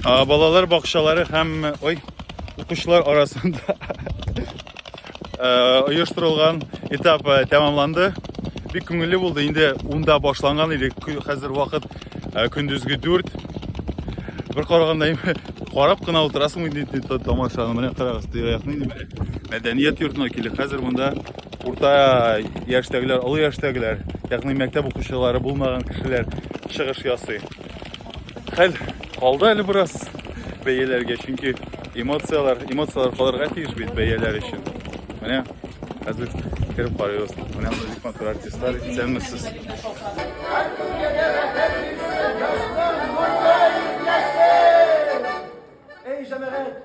А, балалар бакчалары һәм ой, укучылар арасында оештырылган этап тәмамланды. Бик күңелле булды. Инде унда башланган иде. Хәзер вакыт көндезге 4. Бер караганда карап кына утырасың инде тамашаны. Менә карагыз, тирә-якны инде. Мәдәният йортына килде. Хәзер монда урта яшьтәгеләр, олы яшьтәгеләр, ягъни мәктәп укучылары булмаган кешеләр чыгыш ясый. Хәл калды әле бераз бәяләргә, чөнки эмоцияләр, эмоцияләр калырга тиеш бит бәяләр өчен. Менә хәзер кереп карыйбыз. Менә музык матур артистлар исәнмесез. Эй, җәмәгать!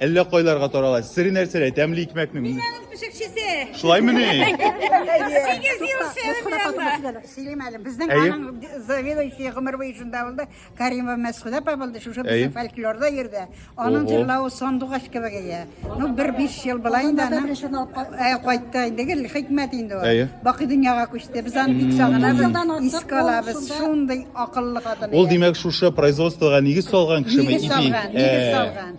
Әллә кайларга тарала. Сире нәрсәләй? Тәмле икмәкнең. Мин авыл пешекчесе. Шулаймы ни? Сигез ел сәвәпләнә. Сөйлим әле. Безнең Әйе. аның заведующий гомер буе шунда булды. Каримова Мәсхүдә апа булды. Шушы Әйе. безнең фольклорда йөрде. Аның Ого. җырлавы сандугач кебек иде. Ну, бер биш ел була инде аны. Ә, кайтты инде гел хикмәт инде ул. Әйе. Бакый дөньяга күчте. Без аны бик сагынабыз. Искә алабыз. Шундый акыллы хатын. Ул иде. димәк шушы производствога нигез салган кешеме? Нигез ипи? салган, нигез Ә, салган.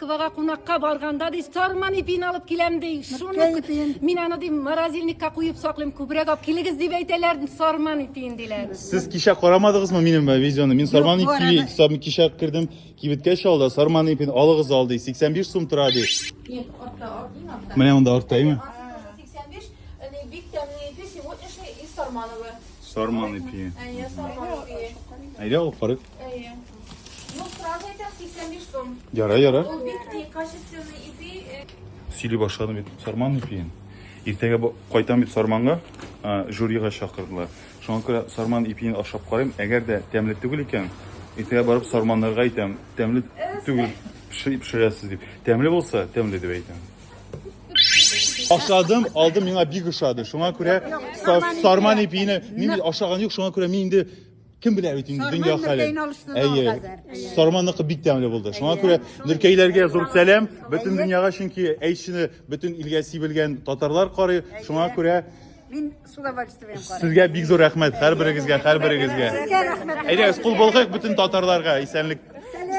Квага кунакка барганда, ди, сарман ипин алып киләм, ди. Шуны ипин. Мин аны, ди, морозильникка куеп саклыйм, күбрәк алып килегез дип әйтәләр, сарман ипин диләр. Сез кичә карамадыгызмы минем э, видеоны? Мин сарман ипи карамадым. сам- кичә кердем, кибеткә чалда, сарман ипин алыгыз ал, ди. 85 сум тора, ди. Нет, артта, артта, артта. Менә монда артта, имя? 85, они бик тәмле ипи, сегодняшний из Сармановы. Сарман ипи. Они Сармановые. Әйдә, алып карыйк. Әйе. Ну, сразу әйтәм, 85 сум. Ярай, ярай. Ул бик ти, качественный ипи. э, Сөйли башладым бит сарман ипиен. Иртәгә бу- кайтам бит сарманга, а, жюрига чакырдылар. Шуңа күрә сарман ипиен ашап карыйм. Әгәр дә тәмле түгел икән, иртәгә барып сарманнарга әйтәм, тәмле түгел, пеши- пешерәсез дип. Тәмле булса, тәмле дип әйтәм. Ашадым, алдым, миңа бик ошады. Шуңа күрә са- сарман ипине мин ашаган юк, шуңа күрә мин инде Кем белә бит инде дөнья хәле. Әйе. Сарманныкы бик тәмле булды. Шуңа күрә Нөркәйләргә зур сәлам. Бөтен дөньяга чөнки әйшне бөтен илгә сибелгән татарлар карый. Шуңа күрә Мин с удовольствием карыйм. Сезгә бик зур рәхмәт һәрберегезгә, һәрберегезгә. Сезгә рәхмәт. Әйдәгез, кул болгыйк бөтен татарларга исәнлек.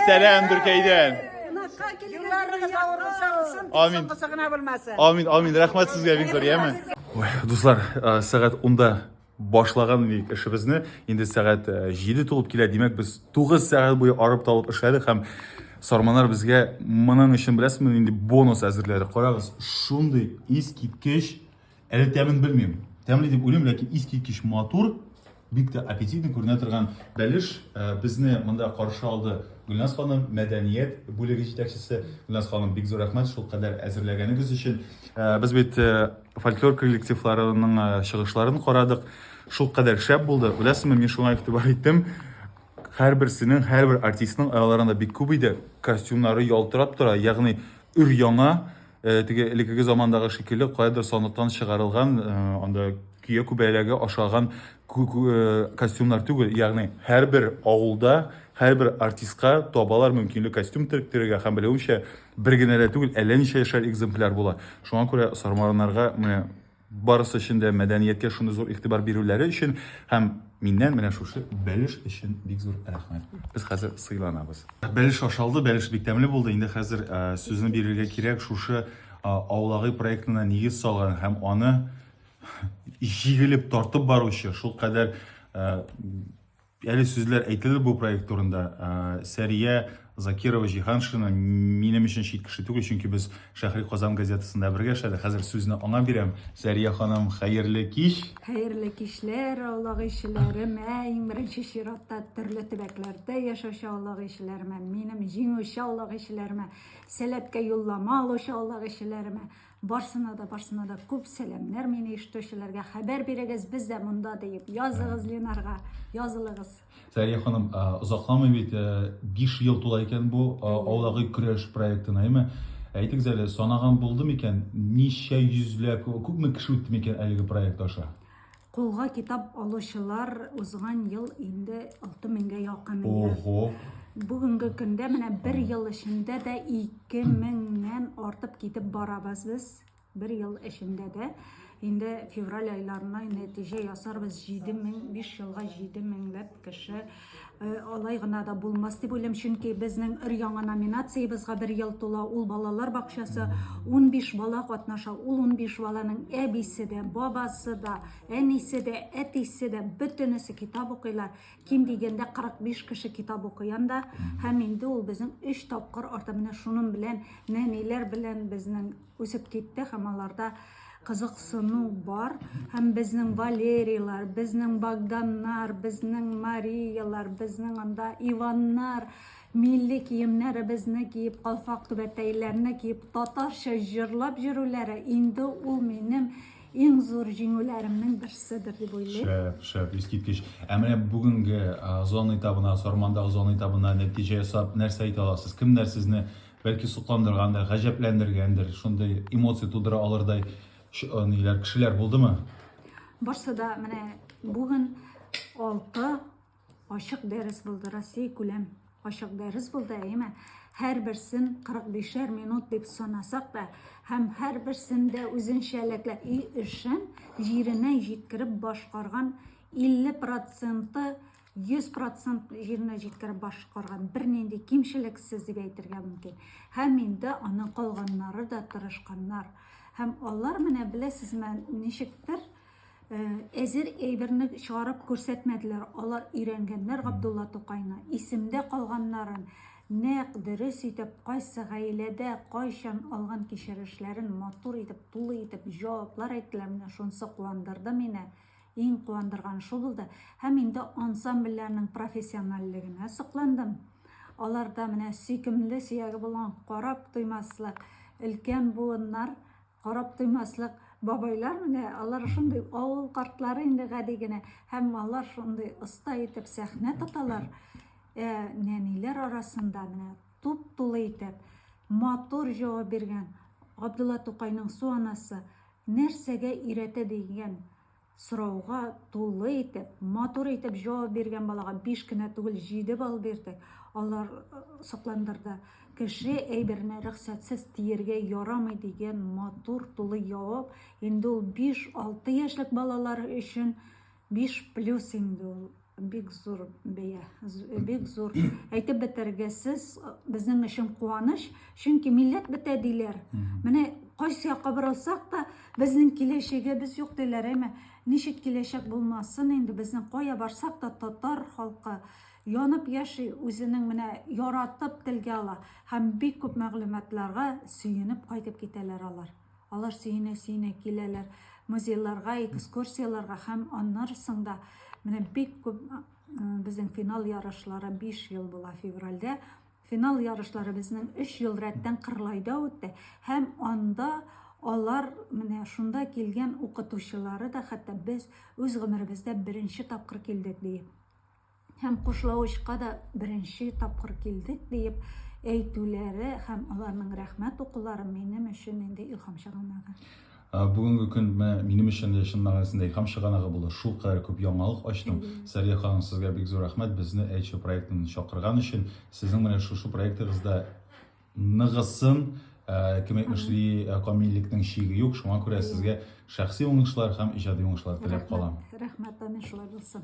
Сәлам Дөркәйдән. Кунакка килгәннәрегез авырса алсын, Амин. соңгысы гына булмасын. Амин, амин. Рәхмәт сезгә бик зур, яме. Дуслар, сәгать 10-да Башлаган идек эшебезне. Инде сәгать 7 тулып килә. Димәк, без 9 сәгать буе арып талып эшләдек һәм Сарманар безгә моның өчен беләсезме инде бонус әзерләде. Карагыз, шундый искиткеч, әле тәмен белмим. Тәмле дип уйлыйм, ләкин искиткеч матур, бик тә аппетитный күренә торган бәлеш э, безне монда каршы алды. Гөлназ ханым, мәдәният бүлеге җитәкчесе. Гөлназ ханым, бик зур рәхмәт шул кадәр әзерләгәнегез өчен. Э, без бит э, фольклор коллективларының э, чыгышларын карадык. Шул кадәр шәп булды. Беләсезме, мин шуңа игътибар иттем. Һәрберсенең, һәрбер артистның аяларында бик күп иде. Костюмнары ялтырап тора, ягъни өр яңа, э, теге элеккеге замандагы шикелле каядыр сандыктан чыгарылган, э, анда көя күбәләге ашаган э, костюмнар түгел. Ягъни һәрбер авылда, һәрбер артистка табалар мөмкинлек костюм тиректерергә һәм белүемчә, Бер генә дә түгел, әллә ничә яшәр экземпляр була. Шуңа күрә сармараннарга менә барысы өчен дә мәдәнияткә шундый зур игътибар бирүләре өчен һәм миннән менә шушы бәлеш өчен бик зур рәхмәт. Без хәзер сыйланабыз. Бәлеш ашалды, бәлеш бик тәмле булды. Инде хәзер э, сүзне бирергә кирәк шушы э, аулагы проектына нигез салган һәм аны җигелеп тартып баручы, шулкадәр э, Әле сүзләр әйтелер бу проект турында. Сәрия Закирова Җиһаншина минем өчен чит кеше түгел, чөнки без Шәһри Казан газетасында бергә эшләдек. Хәзер сүзне аңа бирәм. Сәрия ханым, хәерле кич. Хәерле кичләр, Аллаһ ишеләрем. Иң беренче чиратта төрле төбәкләрдә яшәүче Аллаһ ишеләремә, минем җиңүче Аллаһ ишеләремә, сәләткә юллама алучы Аллаһ ишеләремә. Барсына да, барсына да күп сәламнәр мин иштүчеләргә. Хәбәр бирегез, без дә монда диеп. Языгыз Ленарга, язылыгыз. Сәрия ханым, озакламый бит 5 ел тула икән бу аулагы көрәш проектына, әйме? Әйтегез әле, санаган булды микән, ничә йөзләп, күпме кеше үтте микән әлеге проект аша? Кулга китап алучылар узган ел инде 6000-гә якын иде. Ого. Бүгенге көндә менә бер ел эчендә дә 2000-нән артып китеп барабыз без. Бер ел эчендә дә инде февраль айларына нәтиҗә ясарбыз 7500 елга 7000 ләп кеше Э, алай гына да булмас дип уйлыйм чөнки безнең өр-яңа номинациябезгә бер ел тула ул балалар бакчасы 15 бала катнаша ул 15 баланың әбисе дә бабасы да әнисе дә әтисе дә бөтенесе китап укыйлар ким дигәндә 45 кеше китап укый анда һәм инде ул безнең 3 тапкыр арта менә шуның белән нәниләр белән безнең үсеп китте һәм аларда кызыксыну бар һәм безнең валерийлар безнең богданнар безнең мариялар безнең анда иваннар милли киемнәребезне киеп калфак түбәтәйләрне киеп татарча җырлап йөрүләре инде ул минем иң зур җиңүләремнең берседер дип уйлыйм. Шәп, шәп, искиткеч. Ә менә бүгенге зона этабына, Сармандагы зона этабына нәтиҗә ясап, нәрсә әйтә аласыз? Кемнәр сезне Бәлки сокландыргандыр, гаҗәпләндергәндер, шундый эмоция тудыра алырдай ниләр, кешеләр булдымы? Барсы да менә бүген алты ачык дәрес булды, Россия күләм ачык дәрес булды, әйеме? һәрберсен 45-шәр минут дип санасак та, һәм һәрберсендә үзенчәлекле өй эшен җиренә җиткереп башкарган 50 проценты 100 процент җиренә җиткереп башкарган бернинди кимчелексез дип әйтергә мөмкин. Һәм инде аның калганнары да тырышканнар. Һәм алар менә беләсезме, ничектер э, әзер әйберне чыгарып күрсәтмәделәр. Алар өйрәнгәннәр Габдулла Тукайны, исемдә калганнарын, нәкъ дөрес итеп кайсы гаиләдә кайчан алган кичерешләрен матур итеп, тулы итеп җаваплар әйттеләр. Менә шунысы куандырды мине. Иң куандырганы шул булды. Һәм инде ансамбльләрнең профессиональлегенә сокландым. Аларда менә сөйкемле сөяге булган карап туймаслык, өлкән буыннар, карап туймаслык бабайлар менә, алар шундый авыл картлары инде гади генә, һәм алар шундый оста итеп сәхнә тоталар. Ә нәниләр арасында менә туп-тулы итеп матур җавап биргән Габдулла Тукайның су анасы Нәрсәгә өйрәтә дигән сорауга тулы итеп, матур итеп җавап биргән балага биш кенә түгел, җиде балл бирдек. Алар сокландырды. Кеше әйберне рөхсәтсез тиергә ярамый дигән матур, тулы җавап. Инде ул биш-алты яшьлек балалар өчен Биш плюс инде ул бик зур бәя, бик зур. Әйтеп бетергесез безнең өчен куаныч, чөнки милләт бетә диләр. Менә кайсы якка борылсак та, безнең киләчәгебез юк диләр, әмма ничек киләчәк булмасын инде, безнең кая барсак та татар халкы янып яши, үзенең менә яратып телгә ала һәм бик күп мәгълүматларга сөенеп кайтып китәләр алар. Алар сөенә-сөенә киләләр музейларга, экскурсияларга һәм аннары соңда менә бик күп безнең финал ярышлары 5 ел була февральдә. Финал ярышлары безнең 3 ел рәттән Кырлайда үтте һәм анда алар менә шунда килгән укытучылары да хәтта без үз гомеребездә беренче тапкыр килдек ди. һәм Кушлавычка да беренче тапкыр килдек диеп әйтүләре һәм аларның рәхмәт укулары минем өчен инде илһам чыганагы. Бүгенге көн минем өчен дә чын мәгънәсендә илһам чыганагы булды. Шул кадәр күп яңалык ачтым. Сәрия ханым, сезгә бик зур рәхмәт безне Эйчо проектын чакырган өчен. Сезнең менә шушы проектыгызда ныгысын, кем әйтмешли, камиллекнең чиге юк. Шуңа күрә сезгә шәхси уңышлар һәм иҗади уңышлар теләп калам. Рәхмәт, әмин шулай булсын.